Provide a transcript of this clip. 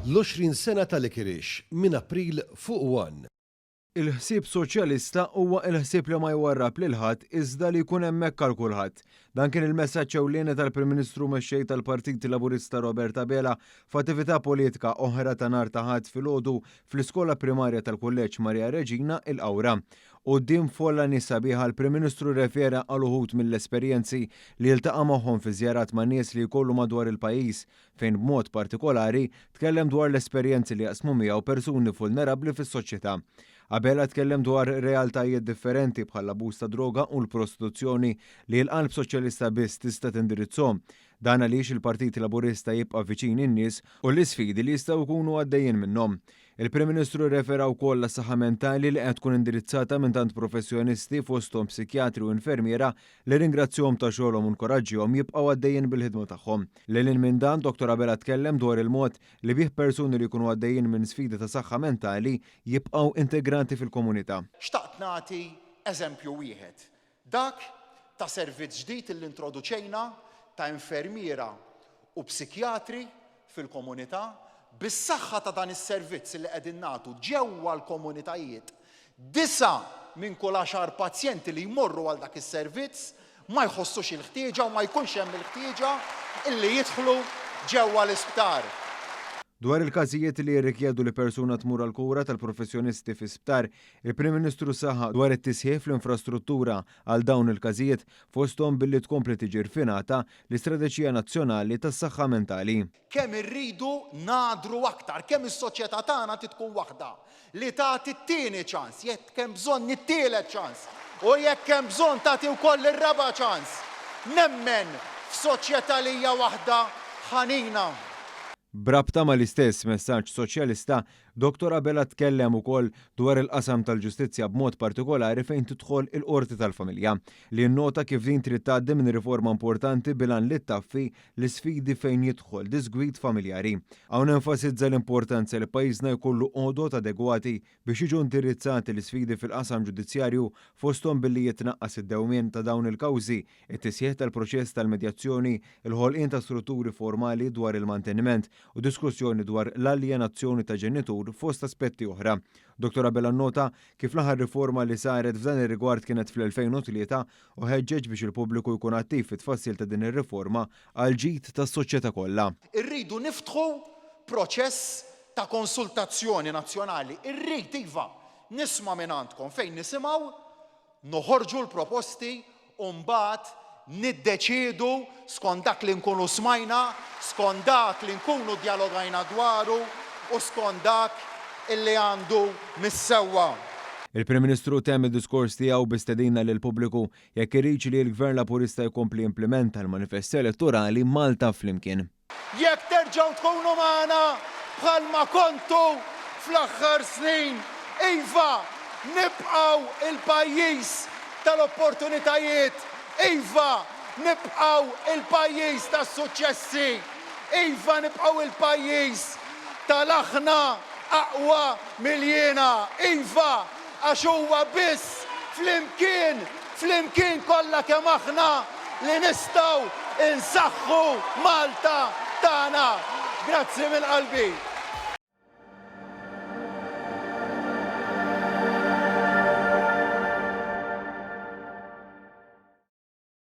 L-20 sena ta' Likirix, minn April fuq one. Il-ħsieb Soċjalista huwa l-ħsieb li ma jwarrab lil ħadd iżda li jkun hemmhekk għal kulħadd. Dan kien il-messaġġ ewlieni tal-Prim Ministru Mexxej tal-Partit Laburista Robert Abela f'attività politika oħra ta' nhar ta' Ħadd filgħodu fl-Iskola Primarja tal-Kulleġġ Maria Reġina, il-Qawra. Quddiem folla nies sabiħa, l-Prim Ministru rrefera għal uħud mill-esperjenzi li ltaqa' magħhom fi żjarat ma' nies li jkollu madwar il-pajjiż, fejn b'mod partikolari tkellem dwar l-esperjenzi li jaqsmu miegħu persuni vulnerabbli fis-soċjetà. Abela tkellem dwar realtajiet differenti bħall-abbuż tad-droga u l-prostituzzjoni li l-qalb Soċjalista biss tista' tindirizzhom. Dan għaliex il-Partit Laburista jibqa' viċin in-nies u l-isfidi li jistgħu jkunu għaddejjin minnhom. Il-Prim Ministru rrefera wkoll għas-saħħa mentali li qed tkun indirizzata minn tant professjonisti fosthom psikjatri u infermiera li rringrazzjahom ta' xogħolhom u nkoraġġihom jibqgħu għaddejjin bil-ħidma tagħhom. Lil hinn minn dan, Dottor Abela tkellem dwar il-mod li bih persuni li jkunu għaddejjin minn sfidi ta' saħħa mentali jibqgħu integrati fil-komunità. Xtaqt nagħti eżempju wieħed Dak ta' servizz ġdid li introduċejna ta' infermiera u psikjatri fil-komunità, bis-saħħa ta' dan is-servizz li qegħdin nagħtu ġewwa l-komunitajiet, disa' minn kull għaxar pazjenti li jmorru għal dak is-servizz ma jħossux il-ħtieġa u ma jkunx hemm il-ħtieġa li jidħlu ġewwa l-isptar. Dwar il-każijiet li jirrikjedu li persuna tmur għall-kura tal-professjonisti fi sptar, Il-Prim Ministru saħaq dwar it-tisħiħ fl-infrastruttura għal dawn il-każijiet, fosthom billi tkompli tiġi rfinata l-Istrateġija Nazzjonali tas-Saħħa Mentali. Kemm irridu ngħaddru aktar, kemm is-soċjetà tagħna trid tkun waħda li tagħti t-tieni ċans, jekk hemm bżonn it-tielet ċans, u jekk hemm bżonn tagħti wkoll ir-raba' ċans. Nemmen f'soċjetà li hija waħda ħanina. B'rabta mal-istess messaġġ Soċjalista, Dottor Abela tkellem ukoll dwar il-qasam tal-ġustizzja b'mod partikolari fejn tidħol il-Qorti tal-Familja, li nnota kif din trid tgħaddi minn riforma importanti bil-għan li ttaffi l-isfidi fejn jidħol disgwid familjari. Hawn enfasizza l-importanza li pajjiżna jkollu għodod adegwati biex jiġu indirizzati l-isfidi fil-qasam ġudizzjarju fosthom billi jitnaqqas id-dewmien ta' dawn il-kawżi it-tisħiħ tal-proċess tal-medjazzjoni, il-ħolqien ta' strutturi formali dwar il-manteniment u diskussjoni dwar l-aljenazzjoni ta' ġenitur fost aspetti oħra. Dottor Abela nnota kif l-aħħar riforma li saret f'dan ir-rigward kienet fl-2003 u ħeġġeġ biex il-pubbliku jkun attiv fit-tfassil ta' din ir-riforma għall-ġid tas-soċjetà kollha. Irridu niftħu proċess ta' konsultazzjoni nazzjonali. Irrid, iva, nisma' mingħandkom fejn nisimgħu Noħorġu l-proposti u mbagħad niddeċiedu skont dak li nkunu smajna, skont dak li nkunu djalogajna dwaru u skont dak li għandu mis-sewwa. Il-Prim Ministru temm id-diskors tiegħu bi stedina lill-pubbliku jekk iridx li l-Gvern Laburista jkompli jimplimenta l-Manifest Elettorali Malta Flimkien. Jekk terġgħu tkunu magħna bħalma kontu fl-aħħar snin, iva, nibqgħu l-pajjiż tal-opportunitajiet, iva, nibqgħu l-pajjiż tas-suċċessi, iva, nibqgħu l-pajjiż tal-aħna aqwa mill-jiena, iva, Għax huwa biss flimkien, flimkien kollha kemm aħna, li nistgħu nsaħħu Malta tagħna. Grazzi minn qalbi.